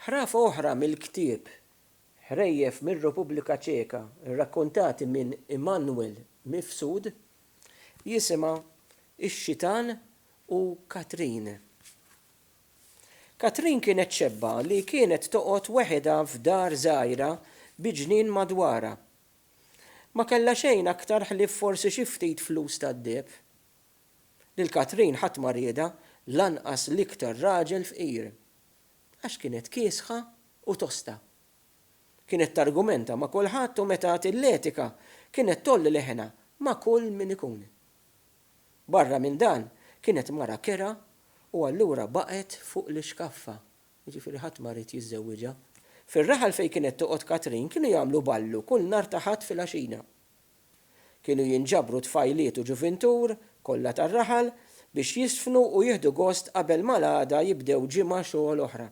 Ħrafa oħra mill-ktieb, Ħrejjef mir-Repubblika Ċeka rrakkontati minn Immanuel Mifsud, jisimha Ix-Xitan u Katrin. Katrin kienet xebba li kienet toqgħod weħidha f'dar żgħira bi ġnien madwarha. Ma kellha xejn aktar ħlief forsi xi ftit flus tad-deheb. Lil Katrin ħadd ma riedha, lanqas l-iktar raġel fqir. Għax kienet kiesħa u tosta. Kienet targumenta ma' kulħadd u meta għad il-letika kienet tgħolli leħinha ma' kull min ikun. Barra minn dan kienet mara kerha u allura baqgħet fuq l-ixkaffa, jiġifieri ħadd ma ried jiżżewwiġha. Fir-raħal fejn kienet toqgħod Katrin kienu jagħmlu ballu kull nhar ta' Ħadd filgħaxija. Kienu jinġabru tfajliet u ġuvintur, kollha tar-raħal, biex jiżfnu u jieħdu gost qabel ma l-għada jibdew ġimgħa xogħol oħra.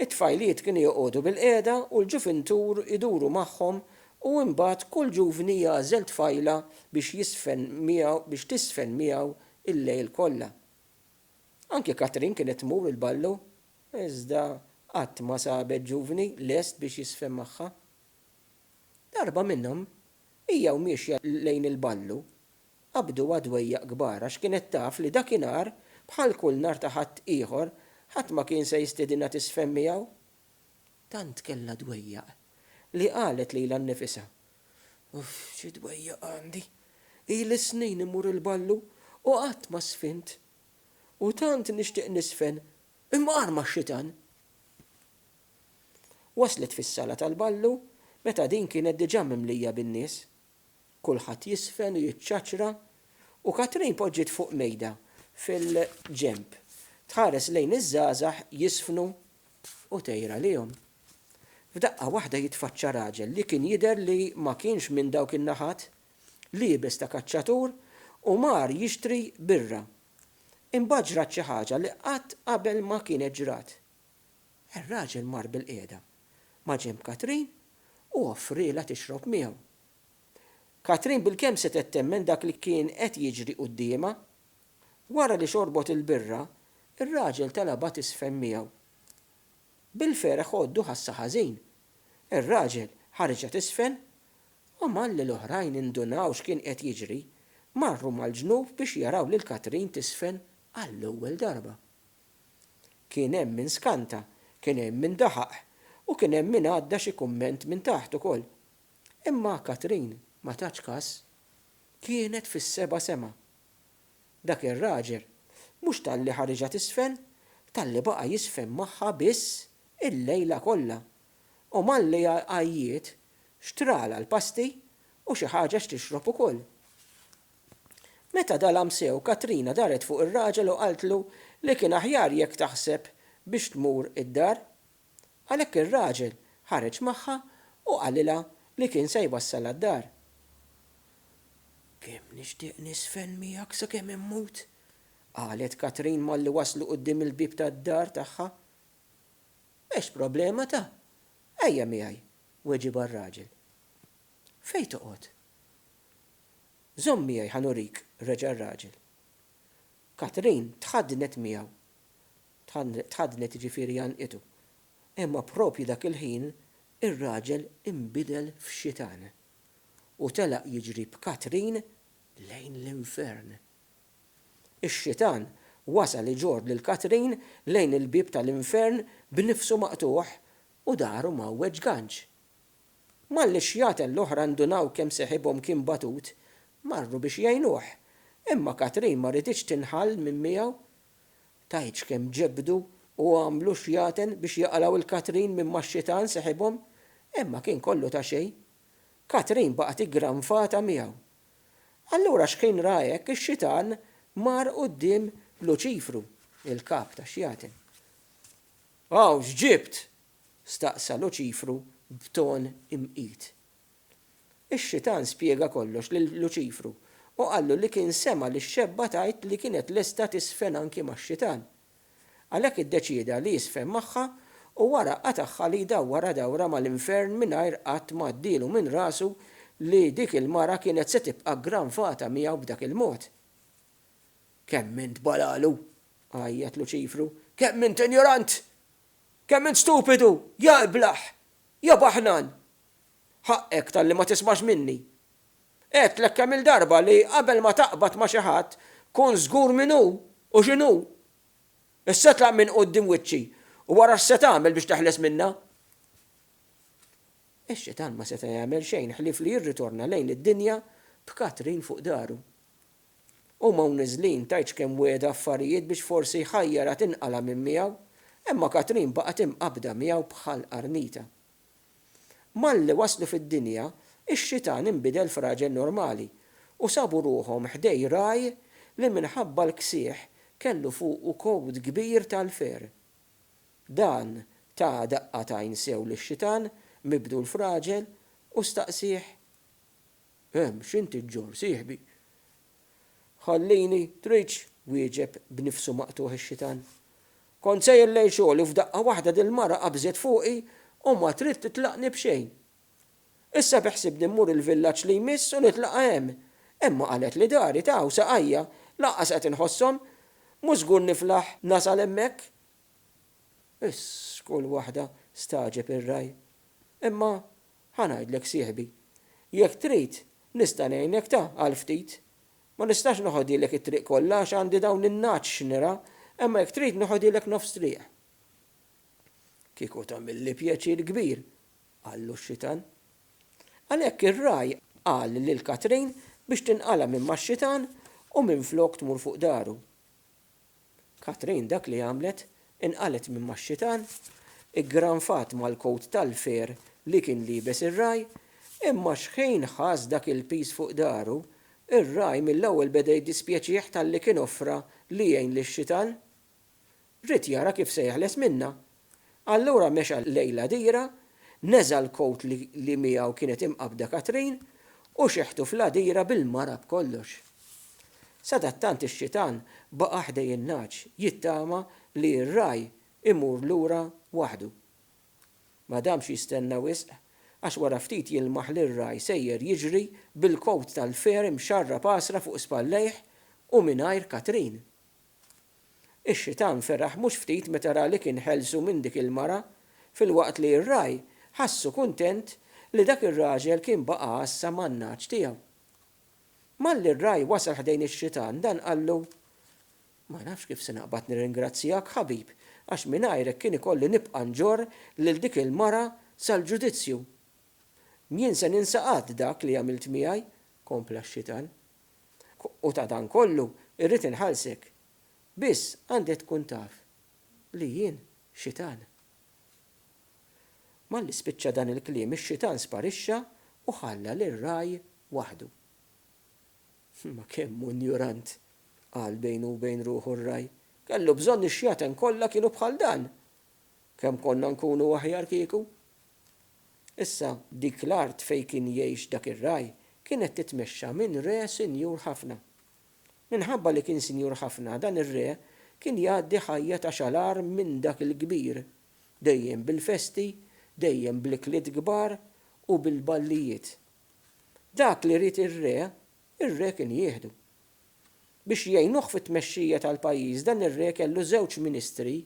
It-tfajliet kienu joqogħdu bilqiegħda u l-ġuvintur iduru magħhom u imbagħad kull ġuvni jagħżel tfajla biex jiżfen miegħu biex tiżfen miegħu l-lejl kollha. Anki Katrin kienet tmur il-ballu iżda qatt ma sabet ġuvni lest biex jiżfen magħha. Darba minnhom, hija u miexja lejn il-ballu, qabduha dwejjaq kbar għax kienet taf li dakinhar, bħal kull nhar ta' Ħadd ieħor, ħadd ma kien se jistiedinha tiżfen miegħu. Tant kellha dwejjaq li qalet lilha nnifisha, Uff, xi dwejjaq għandi! Ili snin immur il-ballu u qatt ma żfint! U tant nixtieq niżfen, imma arma x-xitan! Waslet fis-Sala tal-Ballu meta din kienet diġà mimlija bin-nies. Kulħadd jiżfen u jiċċaċċra u Katrin poġġiet fuq mejda fil-ġenb tħares lejn iż-żgħażagħ jiżfnu u tgħir għalihom. F'daqqa waħda jitfaċċa raġel li kien jidher li ma kienx minn dawk in-naħat, liebes ta' kaċċatur u mar jixtri birra. Imbagħad ġrat xi ħaġa li qatt qabel ma kienet ġrat. Ir-raġel mar bilqiegħda maġenb Katrin u offrielha tixrob miegħu. Katrin bilkemm setgħet temmen dak li kien qed jiġri quddiemha. Wara li xorbot il-birra, ir-raġel talabha tiżfen miegħu. Bil-ferħ għoddu ħassha ħażin. Ir-raġel ħariġha tiżfen u malli l-oħrajn indunaw x'kien qed jiġri, marru mal-ġnub biex jaraw lil Katrin tiżfen għall-ewwel darba. Kien hemm min skanta, kien hemm min daħaq u kien hemm min għadda xi kumment minn taħt ukoll. Imma Katrin ma tatx kas. Kienet fis-seba' sema. Dak ir-raġel, mhux talli ħariġha t'isfel, talli baqa' jiżfen magħha biss il-lejla kollha. U malli għajjiet, xtralha l-pasti u xi ħaġa x'tixrob ukoll. Meta dalam sew, Katrina daret fuq ir-raġel u qaltlu li kien aħjar jekk taħseb biex tmur id-dar. Għalhekk ir-raġel ħareġ magħha u qalilha li kien se jwassalha d-dar. Kemm nixtieq niżfen miegħek sakemm immut! qalet Katrin malli waslu quddiem il-bieb tad-dar tagħha. M'hemmx problema ta! Ejja miegħi, weġibha r-raġel. Fejn toqgħod? Żomm miegħi ħa nurik, reġa' r-raġel. Katherine tħaddnet miegħu. Tħaddnet jiġifieri għannqitu. Imma proprju dak il-ħin ir-raġel inbidel f'xitan u telaq jiġri b'Katherine lejn l-infern. Ix-xitan wasal iġorr lil Katherine lejn il-bieb tal-infern b'nifsu maqtugħ u dahru mgħawweġ ganċ. Malli x-xjaten l-oħra ndunaw kemm seħibhom kien batut, marru biex jgħinuh, imma Katrin ma riditx tinħall minn miegħu. Tgħidx kemm ġebdu u għamlu xjaten biex jaqlgħu 'l Katrin minn max-xitan seħibhom, imma kien kollu ta' xejn. Katrin baqgħet iggranfata miegħu. Allura xħin ra hekk, ix-xitan mar quddiem Luċifru, il-kap tax-xjaten. Hawn x'ġibt? staqsa Luċifru b'ton imqit. Ix-Xitan spjega kollox lil Luċifru u qallu li kien sema' lix-xebba tgħid li kienet lesta tiżfen anki max-Xitan. Għalhekk iddeċieda li jiżfen magħha u wara qatagħha li jdawwarha dawra mal-infern mingħajr qatt ma għaddielu minn rasu li dik il-mara kienet se tibqa' ggranfata miegħu b'dak il-mod. Kemm int balalu! għajjat Luċifru. Kemm int injorant! Kemm int stupidu, ja iblah! Ja baħnan! Ħaqqek talli ma tismax minni. Għedtlek kemm-il darba li qabel ma taqbad ma' xi ħadd, kun żgur min hu u x'inhu. Issa tlaq minn quddiem wiċċi u ara x'se tagħmel biex teħles minnha. Ix-Xitan ma seta' jagħmel xejn ħlief li jirritorna lejn id-dinja b'Katrin fuq dahru. Huma u niżlin tgħidx kemm wegħda affarijiet biex forsi jħajjarha tinqala' minn miegħu, imma Katrin baqgħet imqabbda miegħu bħal qarnita. Malli waslu fid-dinja, ix-xitan inbidel f'raġel normali, u sabu ruħhom ħdej ragħaj li minħabba l-ksieħ kellu fuqu kowt kbir tal-fer. Dan ta daqqa t'għajn sew lix-xitan mibdul f'raġel u staqsieh, Ehm, x'inti ġġorr, sieħbi? Ħallini, tridx, wieġeb b'nifsu maqtugħ ix-xitan. Kont sejjer lejn xogħol u f'daqqa waħda dil-mara qabżet fuqi u ma trid titlaqni b'xejn. Issa beħsibni mmur il-villaġġ li jmiss u nitlaqha hemm, imma qalet li dari ta' hawn saqajja lanqas qed inħosshom, mhux żgur niflaħ nasal hemmhekk. Iss, kull waħda stagħġeb ir-ragħaj. Imma Ħa ngħidlek sieħbi. Jekk trid, nista' ngħinek ta' għal ftit. Ma nistax noħodhielek it-triq kollha għax għandi dawn in-nagħaġ x'nira, imma jekk trid noħodhielek nofs triq. Kieku tagħmilli pjaċir kbir, qallu x-xitan. Għalhekk ir-ragħaj qal lil Katrin biex tinqala' minn max-xitan u minflok tmur fuq daru. Katrin dak li għamlet, inqalgħet minn max-xitan, iggranfat mal-kowt tal-fair li kien liebes ir-ragħaj, imma xħin ħass dak il-piż fuq dahru, ir-ragħaj mill-ewwel beda jiddispjaċih talli kien offra li jgħin lix-xitan. Ried jara kif se jeħles minnha, Allura mexa lejn l-għadira, neża' l-kowt li miegħu kienet imqabbda Katrin u xeħtu fl-għadira bil-mara b'kollox. Sadattant ix-xitan baqa' ħdejn in-nagħaġ jittama li r-ragħaj imur lura waħdu. Ma damx jistenna wisq għax wara ftit jilmaħ lir-ragħaj sejjer jiġri bil-kowt tal-fair imxarrab għasra fuq spallejh u mingħajr Katrin. Ix-xitan feraħ mhux ftit meta ra li kien ħelsu minn dik il-mara, filwaqt li r-ragħaj ħassu kuntent li dak ir-raġel kien baqa' għassa man-nagħaġ tiegħu. Malli r-ragħaj wasal ħdejn ix-xitan, dan qallu, Ma nafx kif se naqbad nirringrazzjak, ħabib, għax mingħajrek kien ikolli nibqa' nġorr lil dik il-mara sal-ġudizzju. Mjien se ninsa qatt dak li għamilt miegħi, kompla x-xitan. u ta' dan kollu irrid inħallsek, biss għandek tkun taf li jien Xitan. Malli spiċċa dan il-kliem ix-Xitan sparixxa u ħalla lir-ragħaj waħdu. Ma kemm hu injurant, qal bejnu u bejn ruħu r-ragħaj. Kellu bżonn ix-xjaten kollha kienu bħal dan! Kemm konna nkunu aħjar kieku! Issa, dik l-art fejn kien jgħix dak ir-ragħaj kienet titmexxa minn re sinjur ħafna. Minħabba li kien sinjur ħafna, dan ir-re kien jgħaddi ħajja ta' xalar minn dak il-kbir, dejjem bil-festi, dejjem bl-ikliet kbar u bil-ballijiet. Dak li ried ir-re, ir-re kien jieħdu. Biex jgħinuh fit-tmexxija tal-pajjiż, dan ir-re kellu żewġ ministri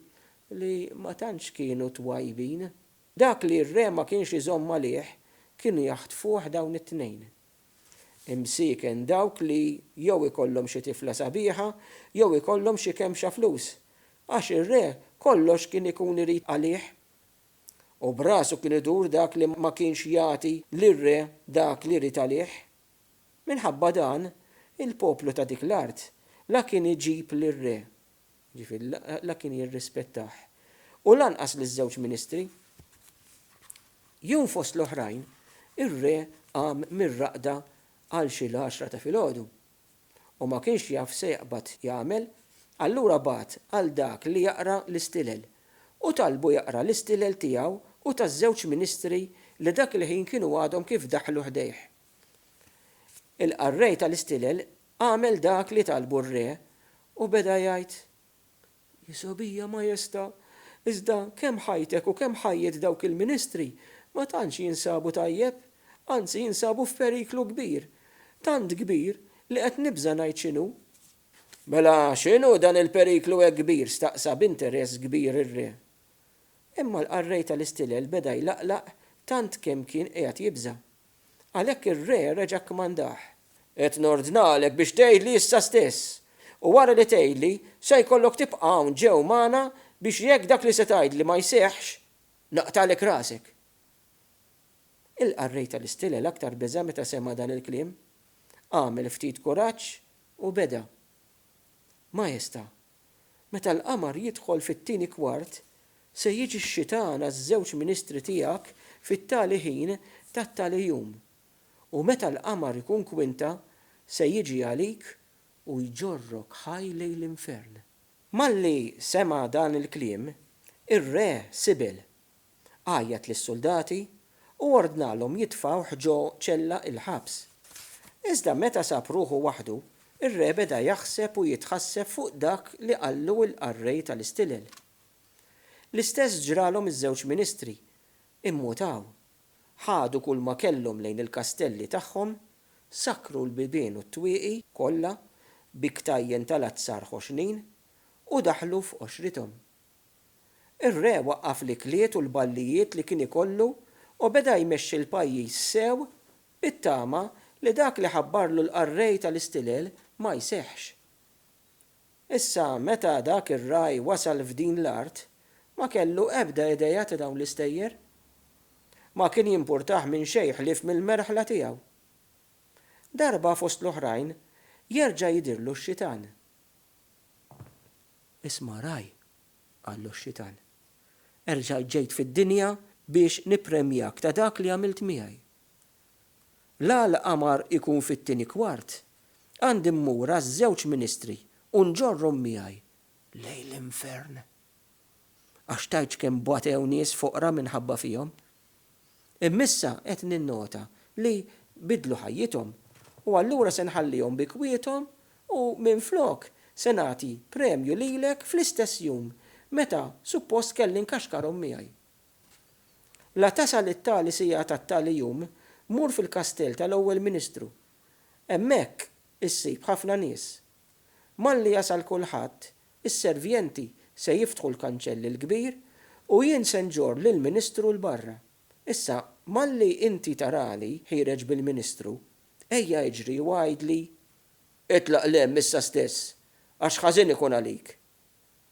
li ma tantx kienu twajbin. Dak li r-re ma kienx iżomm għalih kienu jaħtfuh dawn it-tnejn. Imsieken dawk li jew ikollhom xi tifla sabiħa jew ikollhom xi kemxa flus, għax ir-re kollox kien ikun irid għalih. U b'rasu kien idur dak li ma kienx jagħti lir-re dak li jrid għalih. Minħabba dan, il-poplu ta' dik l-art la kien iġib lir-re Jiġifieri la kien jirrispettah u lanqas liż-żewġ ministri. Jum fost l-oħrajn, ir-re qam mir-raqda għal xi l-għaxra ta' filgħodu u ma kienx jaf se jaqbad jagħmel, allura bagħat għal dak li jaqra l-istilel u talbu jaqra l-istilel tiegħu u taż-żewġ ministri li dak il-ħin kienu għadhom kif daħlu ħdejh. Il-qarrej tal-istilel Għamel dak li talbu r-re u beda jgħid, Hi sogħbija, Majesta, iżda kemm ħajtek u kemm ħajjet dawk il-ministri ma tantx jinsabu tajjeb, anzi jinsabu f'periklu kbir, tant kbir li qed nibża' ngħid x'inhu. Mela x'inhu dan il-periklu hekk kbir? staqsa b'interess kbir ir-re. Imma l-qarrej tal-istilel beda jlaqlaq tant kemm kien qiegħed jibża'. Għalhekk ir-re reġa' kkomandah, Qed nordnalek biex tgħidli issa stess, u wara li tgħidli, se jkollok tibqa' hawn ġew magħna biex jekk dak li se tgħidli ma jseħħx, naqtagħlek rasek. Ilqa' r-re tal-istilel aktar beża' meta sema' dan il-kliem. Għamel ftit kuraġġ u beda, Maestà, Meta l-qamar jidħol fit-tieni kwart, se jiġi x-xitan għaż-żewġ ministri tiegħek fit-tali ħin tat-tali jum, u meta l-qamar ikun kwinta, se jiġi għalik u jġorrok ħaj lejn l-infern. Malli sema' dan il-kliem, ir-re Sibel għajjat lis-suldati u ordnalhom jitfgħuh ġo ċella il-ħabs. Iżda meta sab ruħu waħdu, ir-re beda jaħseb u jitħasseb fuq dak li qallu l-qarrej tal-istilel. L-istess ġralhom iż-żewġ ministri, immutaw, ħadu kulma kellhom lejn il-kastelli tagħhom, sakkru l-bibien u t-twieqi kollha bi ktajjen tal-azzar ħoxnin u daħlu f'qoxrithom. Ir-re waqqaf l-ikliet u l-ballijiet li kien ikollu u beda jmexxi l-pajjiż sew bit-tama li dak li ħabbarlu l-qarrej tal-istilel ma jseħħx. Issa meta dak ir-ragħaj wasal f'din l-art, ma kellu ebda idea ta' dawn l-istejjer. Ma kien jimpurtah minn xejn ħlief mill-merħla tiegħu. Darba fost l-oħrajn jerġa' jidhirlu x-xitan. Isma' ragħaj, qallu x-xitan. Erġajt ġejt fid-dinja biex nippremjak ta' dak li għamilt miegħi. La l-qamar ikun fit-tieni kwart, għandi mmur għaż-żewġ ministri u nġorrhom miegħi lejn l-infern. għax tgħidx kemm batew nies foqra minħabba fihom. Imma issa qed ninnota li biddlu ħajjithom u allura se nħallihom bi kwiethom u minflok se nagħti premju lilek fl-istess jum meta suppost kelli nkaxkarhom miegħi. La tasal it-tali siegħa tat-tali jum, mur fil-kastell tal-Ewwel Ministru. Hemmhekk issib ħafna nies. Malli jasal kulħadd, Is-servjenti se jiftħu l-kanċell il-kbir u jien se nġorr lill-ministru 'l barra. Issa, malli inti tarali ħiereġ bil-ministru, ejja iġri u għidli, 'Itlaq 'l hemm issa stess, għax ħażin ikun għalik!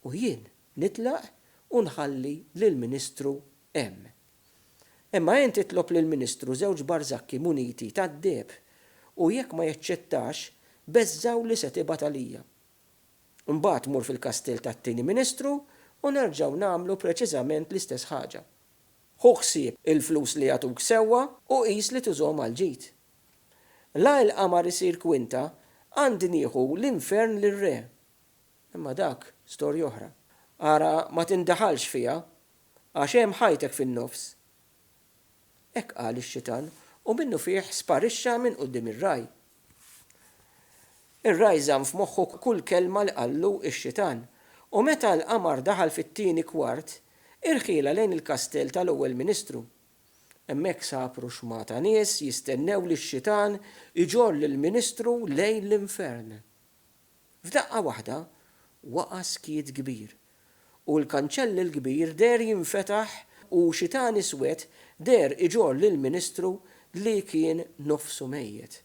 U jien nitlaq u nħalli lill-ministru hemm. Imma int itlob lill-ministru żewġ barzakki muniti tad-deheb, u jekk ma jaċċettax, beżżgħu li se tibgħat għalija. Mbagħad mur fil-kastell tat-Tieni Ministru u nerġgħu nagħmlu preċiżament l-istess ħaġa. Ħu ħsieb il-flus li jagħtuk sewwa u qis li tużhom għall-ġid. La il-qamar isir kwinta, għandi nieħu l-infern lir-re. Imma dak storja oħra. Ara ma tindaħalx fiha, għax hemm ħajtek fin-nofs. Hekk qal ix-xitan u minnufih sparixxa minn quddiem ir-ragħaj. Ir-ragħaj żamm f'moħħu kull kelma li qallu x-xitan u meta l-qamar daħal fit-tieni kwart, irħielha lejn il-kastell tal-Ewwel Ministru. Hemmhekk sab ruxma ta' nies jistennew lix-xitan iġorr lill-Ministru lejn l-infern. F'daqqa waħda waqa' skiet kbir, u l-kanċell il-kbir deher jinfetaħ u xitan iswed deher iġorr lill-ministru li kien nofsu mejjet.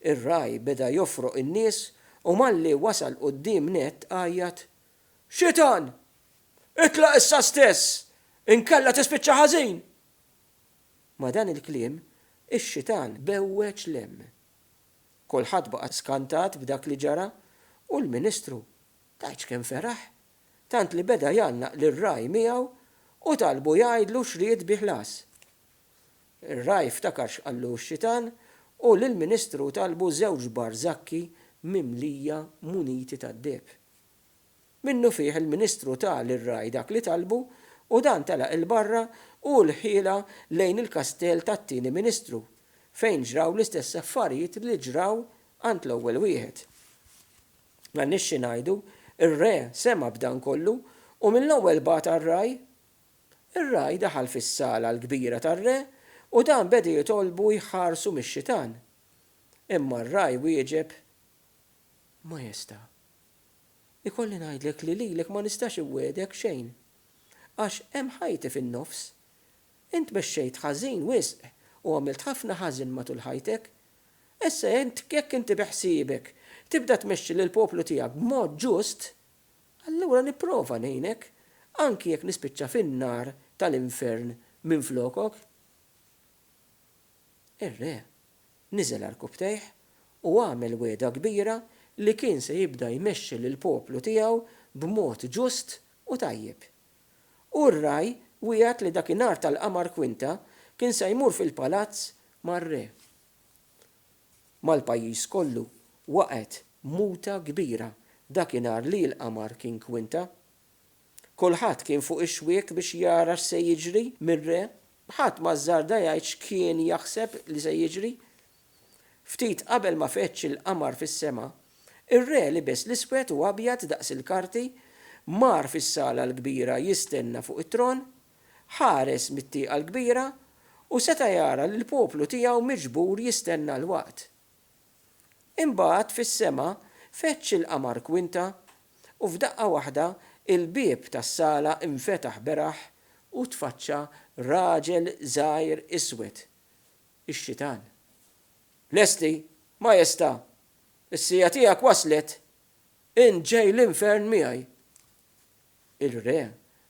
Ir-ragħaj beda jofroq in-nies u malli wasal quddiem nett għajjat, Xitan! Itlaq issa stess, inkella tispiċċa ħażin! Ma' dan il-kliem, ix-xitan bewweġ l-hemm Kulħadd baqa' skantat b'dak li ġara u l-Ministru tgħidx kemm feraħ, tant li beda jgħannaq lir-ragħaj miegħu u talbu jgħidlu x'ried bi ħlas. Ir-ragħaj ftakar x'qallu x-xitan u lill-Ministru talbu żewġ barżakki mimlija muniti tad-deheb. Minnufih il-Ministru ta lir-Ragħaj dak li talbu u dan telaq 'il barra u lhielha lejn il-kastell tat-Tieni Ministru, fejn ġraw l-istess affarijiet li ġraw għand l-ewwel wieħed. Ma għandniex xi ngħidu, ir-Re sema' b'dan kollu u mill-ewwel bagħat għar-Ragħaj. Ir-Ragħaj daħal fis-sala l-kbira tar-Re u dan beda jitolbu jħarsu mix-xitan. Imma r-Ragħaj wieġeb, Majesta'. Ikolli ngħidlek li lilek ma nistax inwiegħdek xejn. Għax hemm ħajti fin-nofs. Int mexxejt ħażin wisq u għamilt ħafna ħażen matul ħajtek. Issa int jekk inti beħsiebek tibda tmexxi lill-poplu tiegħek b'mod ġust, allura nipprova ngħinek, anki jekk nispiċċa fin-nar tal-infern minflokok. Ir-re Niżel għal rkubtejh u għamel wegħda kbira li kien se jibda jmexxi lill-poplu tiegħu b'mod ġust u tajjeb. U r-ragħaj wiegħed li dakinhar tal-qamar kwinta kien se jmur fil-palazz mar-re. Mal-pajjiż kollu waqgħet muta kbira dakinhar li l-qamar kien kwinta. Kulħadd kien fuq ix-xwiek biex jara x'se jiġri mir-re. Ħadd ma żżarda jgħid x'kien jaħseb li se jiġri. Ftit qabel ma feġġ il-qamar fis-sema, ir-re libes l-iswed u abjad daqs il-karti, mar fis-sala l-kbira jistenna fuq it-tron, ħares mit-tieqa l-kbira u seta' jara lill-poplu tiegħu miġbur jistenna l-waqt. Imbagħad fis-sema feġġ il-qamar kwinta, u f'daqqa waħda l-bieb tas-sala nfetaħ beraħ u tfaċċa raġel żgħir iswed, ix-Xitan. Lesti, Majestà! Is-siegħa tiegħek waslet! Int ġej l-infern miegħi! Ir-re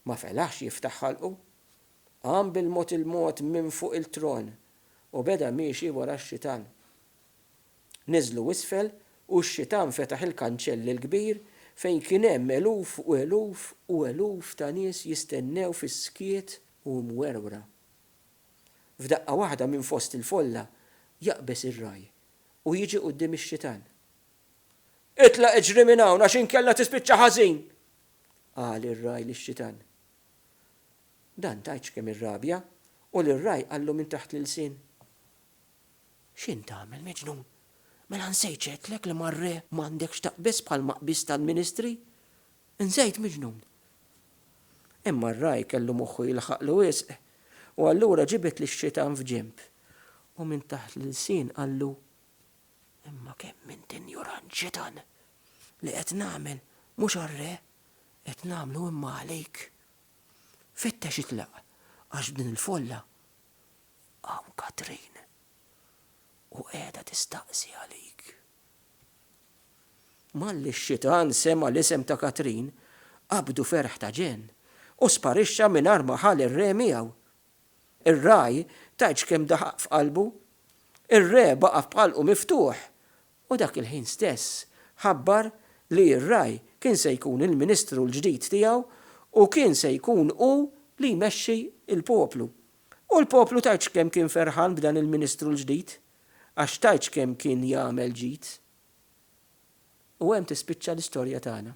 ma felaħx jiftaħ ħalqu. Qam bil-mod il-mod minn fuq il-tron u beda miexi wara x-xitan. Niżlu isfel u x-xitan fetaħ il-kanċell il-kbir fejn kien hemm eluf u eluf u eluf ta' nies jistennew fis-skiet u mwerwra. F'daqqa waħda minn fost il-folla jaqbeż ir-ragħaj u jiġi quddiem ix-xitan. Itlaq iġri minn hawn għax inkella tispiċċa ħażin! qal ir-ragħaj lix-xitan. Dan tgħidx kemm irrabja, u lir-ragħaj qallu minn taħt l-ilsien, X'int tagħmel, miġnun? Mela nsejt x'għedtlek li mar-re m'għandek x'taqbiż bħalma qbiżt għall-ministri? Nsejt, miġnun! Imma r-ragħaj kellu moħħu jilħaqlu wisq, u allura ġibed lix-xitan f'ġenb, u minn taħt l-ilsien qallu, Imma kemm int injurant, xitan! Li qed nagħmel mhux għar-re, qed nagħmlu imma għalik. Fittex itlaq għax f'din il-folla hawn Katrin u qiegħda tistaqsi għalik. Malli x-xitan sema' l-isem ta' Katrin, qabdu ferħ ta' ġenn u sparixxa mingħajr ma ħa lir-re miegħu. Ir-ragħaj tgħidx kemm daħaq f'qalbu. Ir-re baqa' b'ħalqu miftuħ u dak il-ħin stess ħabbar li r-Raj kien se jkun il-Ministru l-ġdid tiegħu u kien se jkun hu li jmexxi l-poplu. U l-poplu tgħidx kemm kien ferħan b'dan il-Ministru l-ġdid, għax tgħidx kemm kien jagħmel ġid. U hemm tispiċċa l-istorja tagħna.